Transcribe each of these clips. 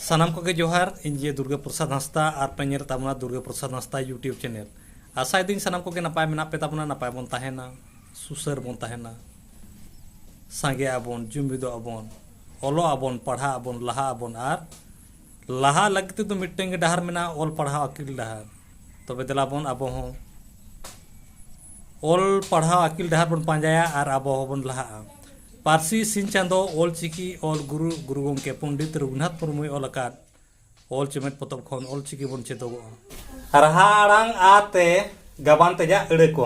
ᱥᱟᱱᱟᱢ ᱠᱚᱜᱮ ᱡᱚᱦᱟᱨ ᱤᱧ ᱡᱮ ᱫᱩᱨᱜᱟ ᱯᱨᱚᱥᱟᱫᱽ ᱦᱟᱸᱥᱫᱟ ᱟᱨ ᱯᱮ ᱧᱮᱞ ᱛᱟᱵᱚᱱᱟ ᱫᱩᱨᱜᱟ ᱯᱨᱚᱥᱟᱫᱽ ᱦᱟᱸᱥᱫᱟ ᱭᱩᱴᱤᱭᱩᱵᱽ ᱪᱮᱱᱮᱞ ᱟᱥᱟᱭᱮᱫᱟᱹᱧ ᱥᱟᱱᱟᱢ ᱠᱚᱜᱮ ᱱᱟᱯᱟᱭ ᱢᱮᱱᱟᱜ ᱯᱮ ᱛᱟᱵᱚᱱᱟ ᱱᱟᱯᱟᱭ ᱵᱚᱱ ᱛᱟᱦᱮᱱᱟ ᱥᱩᱥᱟᱹᱨ ᱵᱚᱱ ᱛᱟᱦᱮᱱᱟ ᱥᱟᱸᱜᱮ ᱟᱵᱚᱱ ᱡᱩᱢᱤᱫᱚᱜ ᱟᱵᱚᱱ ᱚᱞᱚᱜ ᱟᱵᱚᱱ ᱯᱟᱲᱦᱟᱜ ᱟᱵᱚᱱ ᱞᱟᱦᱟᱜ ᱟᱵᱚᱱ ᱟᱨ ᱞᱟᱦᱟ ᱞᱟᱹᱜᱤᱫ ᱛᱮᱫᱚ ᱢᱤᱫᱴᱟᱝ ᱜᱮ ᱰᱟᱦᱟᱨ ᱢᱮᱱᱟᱜᱼᱟ ᱚᱞ ᱯᱟᱲᱦᱟᱣ ᱟᱹᱠᱤᱞ ᱰᱟᱦᱟᱨ ᱛᱚᱵᱮ ᱫᱮᱞᱟ ᱵᱚᱱ ᱟᱵᱚ ᱦᱚᱸ ᱚᱞ ᱯᱟᱲᱦᱟᱣ ᱟᱹᱠᱤᱞ ᱰᱟᱦᱟᱨ ᱵᱚᱱ ᱯᱟᱸᱡᱟᱭᱟ ᱟᱨ ᱟᱵᱚ ᱦᱚᱸᱵᱚᱱ ᱞᱟᱦᱟᱜᱼᱟ ᱯᱟᱹᱨᱥᱤ ᱥᱤᱧ ᱪᱟᱸᱫᱚ ᱚᱞ ᱪᱤᱠᱤ ᱚᱞ ᱜᱩᱨᱩ ᱜᱩᱨᱩ ᱜᱚᱢᱠᱮ ᱯᱚᱱᱰᱤᱛ ᱨᱚᱜᱷᱩᱱᱟᱛᱷ ᱢᱩᱨᱢᱩᱭ ᱚᱞ ᱟᱠᱟᱫ ᱚᱞ ᱪᱮᱢᱮᱫ ᱯᱚᱛᱚᱵ ᱠᱷᱚᱱ ᱚᱞ ᱪᱤᱠᱤ ᱵᱚᱱ ᱪᱮᱫᱚᱜᱚᱜᱼᱟ ᱨᱟᱦᱟ ᱟᱲᱟᱝ ᱟᱛᱮ ᱜᱟᱵᱟᱱ ᱛᱮᱭᱟᱜ ᱟᱹᱲᱟᱹ ᱠᱚ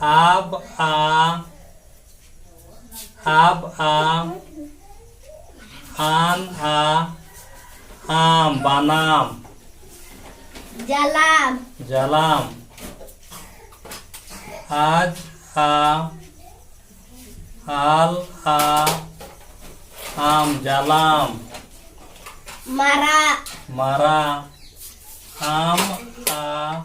ᱟᱵ ᱟ ᱟᱵ ᱟ ᱟᱱ ᱟ ᱟᱢ ᱵᱟᱱᱟᱢ ᱡᱟᱞᱟᱢ ᱡᱟᱞᱟᱢ ᱟᱡ ᱟ ᱟᱞ ᱟ ᱟᱢ ᱡᱟᱞᱟᱢ ᱢᱟᱨᱟᱜ ᱢᱟᱨᱟᱜ ᱟᱢ ᱟ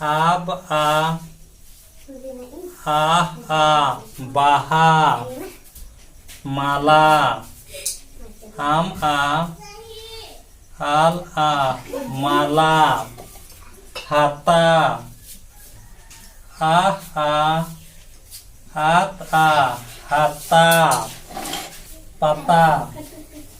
ᱟᱵ ᱟ ᱟᱦ ᱟ ᱵᱟᱦᱟ ᱢᱟᱞᱟ ᱟᱢ ᱟ ᱟᱞ ᱟ ᱢᱟᱞᱟ ᱦᱟᱛᱟ ᱟᱦ ᱟ ᱟᱛ ᱟ ᱦᱟᱛᱟ ᱯᱟᱛᱟ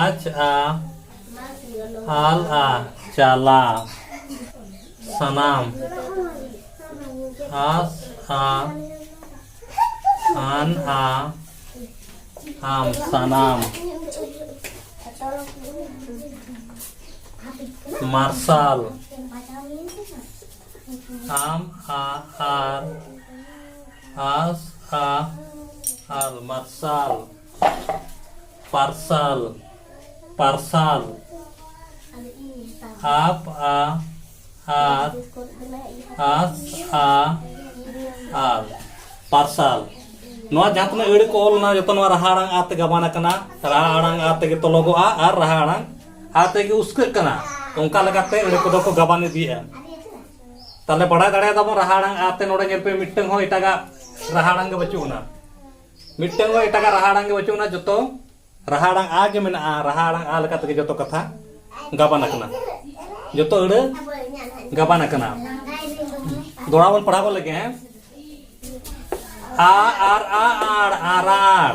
ᱟᱡ ᱟ ᱟᱞ ᱟ ᱪᱟᱞᱟ ᱥᱟᱱᱟᱢ ᱟᱥ ᱟ ᱟᱱ ᱟ ᱟᱢ ᱥᱟᱱᱟᱢ ᱢᱟᱨᱥᱟᱞ ᱟᱢ ᱟ ᱟᱨ ᱟᱥ ᱟ ᱟᱨ ᱢᱟᱨᱥᱟᱞ ᱯᱟᱨᱥᱟᱞ ᱯᱟᱨᱥᱟᱞ ᱟᱯ ᱟ ᱟᱨ ᱟᱥ ᱟ ᱟᱨ ᱯᱟᱨᱥᱟᱞ ᱱᱚᱣᱟ ᱡᱟᱦᱟᱸ ᱛᱤᱱᱟᱹᱜ ᱟᱹᱲᱟᱹ ᱠᱚ ᱚᱞ ᱮᱱᱟ ᱡᱚᱛᱚ ᱱᱚᱣᱟ ᱨᱟᱦᱟ ᱟᱲᱟᱝ ᱟ ᱛᱮ ᱜᱟᱵᱟᱱ ᱟᱠᱟᱱᱟ ᱨᱟᱦᱟ ᱟᱲᱟᱝ ᱟ ᱛᱮᱜᱮ ᱛᱚᱞᱚᱜᱚᱜᱼᱟ ᱟᱨ ᱨᱟᱦᱟ ᱟᱲᱟᱝ ᱟᱛᱮ ᱜᱮ ᱩᱥᱠᱟᱹᱜ ᱠᱟᱱᱟ ᱚᱱᱠᱟ ᱞᱮᱠᱟᱛᱮ ᱟᱹᱲᱟᱹ ᱠᱚᱫᱚ ᱠᱚ ᱜᱟᱵᱟᱱ ᱤᱫᱤᱭᱮᱜᱼᱟ ᱛᱟᱦᱚᱞᱮ ᱵᱟᱲᱟᱭ ᱫᱟᱲᱮᱭᱟᱫᱟᱵᱚᱱ ᱨᱟᱦᱟ ᱟᱲᱟᱝ ᱟᱛᱮ ᱱᱚᱰᱮ ᱧᱮᱞ ᱯᱮ ᱢᱤᱫᱴᱟᱝ ᱦᱚᱸ ᱮᱴᱟᱜᱟᱜ ᱨᱟᱦᱟ ᱟᱲᱟᱝ ᱜᱮ ᱵᱟᱹᱪᱩᱜ ᱟᱱᱟ ᱢᱤᱫᱴᱟᱝ ᱦᱚᱸ ᱮᱴᱟᱜᱟᱜ ᱨᱟᱦᱟ ᱟᱲᱟᱝ ᱜᱮ ᱵᱟᱹᱪᱩᱜ ᱟᱱᱟ ᱡᱚᱛᱚ ᱨᱟᱦᱟ ᱟᱲᱟᱝ ᱟ ᱜᱮ ᱢᱮᱱᱟᱜᱼᱟ ᱨᱟᱦᱟ ᱟᱲᱟᱝ ᱟ ᱞᱮᱠᱟ ᱛᱮᱜᱮ ᱡᱚᱛᱚ ᱠᱟᱛᱷᱟ ᱜᱟᱵᱟᱱ ᱟᱠᱟᱱᱟ ᱡᱚᱛᱚ ᱟᱹᱲᱟᱹ ᱜᱟᱵᱟᱱ ᱟᱠᱟᱱᱟ ᱫᱚᱲᱟ ᱵᱚᱱ ᱯᱟᱲᱦᱟᱣ ᱞᱮᱜᱮ ᱦᱮᱸ ᱟ ᱟᱨ ᱟ ᱟᱲ ᱟᱨᱟᱲ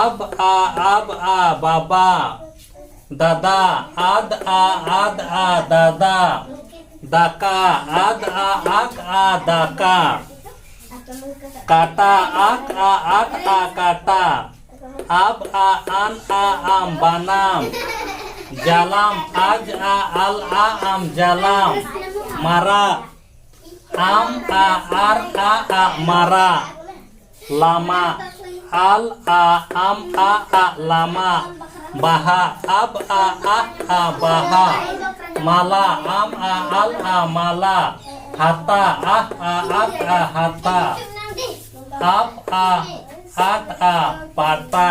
ᱟᱵ ᱟ ᱟᱵ ᱟ ᱵᱟᱵᱟ ᱫᱟᱫᱟ ᱟᱫ ᱟ ᱟᱫ ᱟ ᱫᱟᱫᱟ ᱫᱟᱠᱟ ᱟᱫ ᱟ ᱟᱫ ᱟ ᱫᱟᱠᱟ ᱠᱟᱴᱟ ᱟᱠ ᱟ ᱟᱠ ᱟ ᱠᱟᱴᱟ ᱟᱵ ᱟ ᱟᱱ ᱟ ᱟᱢ ᱵᱟᱱᱟᱢ ᱡᱟᱞᱟᱢ ᱟᱡ ᱟ ᱟᱞ ᱟ ᱟᱢ ᱡᱟᱞᱟᱢ ᱢᱟᱨᱟᱜ ᱟᱢ ᱟ ᱟᱨ ᱟ ᱟᱜ ᱢᱟᱨᱟᱜ ᱞᱟᱢᱟ ᱟᱞ ᱟ ᱟᱢ ᱟ ᱟᱜ ᱞᱟᱢᱟ ᱵᱟᱦᱟ ᱟᱵ ᱟ ᱟᱦ ᱟ ᱵᱟᱦᱟ ᱢᱟᱞᱟ ᱟᱢ ᱟ ᱟᱞ ᱟ ᱢᱟᱞᱟ ᱦᱟᱛᱟ ᱟᱦ ᱟ ᱟᱛ ᱟ ᱦᱟᱛᱟ ᱟᱯ ᱟ ᱟᱴ ᱟ ᱯᱟᱴᱟ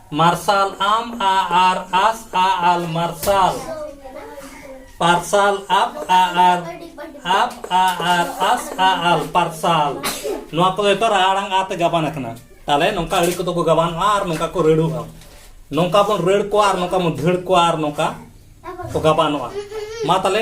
ᱢᱟᱨᱥᱟᱞ ᱟᱢ ᱟ ᱟᱨ ᱟᱥ ᱟ ᱟᱞ ᱢᱟᱨᱥᱟᱞ ᱯᱟᱨᱥᱟᱞ ᱟᱯ ᱟ ᱟᱨ ᱟᱯ ᱟ ᱟᱨ ᱟᱥ ᱟ ᱟᱞ ᱯᱟᱨᱥᱟᱞ ᱱᱚᱣᱟ ᱠᱚᱫᱚ ᱡᱚᱛᱚ ᱨᱟᱲᱟᱝ ᱟ ᱛᱮ ᱜᱟᱵᱟᱱ ᱟᱠᱟᱱᱟ ᱛᱟᱦᱞᱮ ᱱᱚᱝᱠᱟ ᱟᱹᱲᱤ ᱠᱚᱫᱚ ᱠᱚ ᱜᱟᱵᱟᱱᱚᱜᱼᱟ ᱟᱨ ᱱᱚᱝᱠᱟ ᱠᱚ ᱨᱟᱹᱲᱩᱜᱼᱟ ᱱᱚᱝᱠᱟ ᱵᱚᱱ ᱨᱟᱹᱲ ᱠᱚᱣᱟ ᱟᱨ ᱱᱚᱝᱠᱟ ᱵᱚᱱ ᱫᱷᱟᱹᱲ ᱠᱚᱣᱟ ᱟᱨ ᱱᱚᱝᱠᱟ ᱠᱚ ᱜᱟᱵᱟᱱᱚᱜᱼᱟ ᱢᱟ ᱛᱟᱦᱞᱮ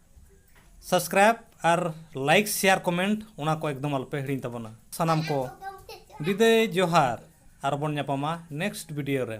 ᱥᱟᱵᱥᱠᱨᱟᱭᱤᱵ ᱟᱨ ᱞᱟᱭᱤᱠ ᱥᱮᱭᱟᱨ ᱠᱚᱢᱮᱱᱴ ᱚᱱᱟ ᱠᱚ ᱮᱠᱫᱚᱢ ᱟᱞᱚᱯᱮ ᱦᱤᱲᱤᱧ ᱛᱟᱵᱚᱱᱟ ᱥᱟᱱᱟᱢ ᱠᱚ ᱵᱤᱫᱟᱹᱭ ᱡᱚᱦᱟᱨ ᱟᱨᱵᱚᱱ ᱧᱟᱯᱟᱢᱟ ᱱᱮᱠᱥᱴ ᱵᱷᱤᱰᱤᱭᱳ ᱨᱮ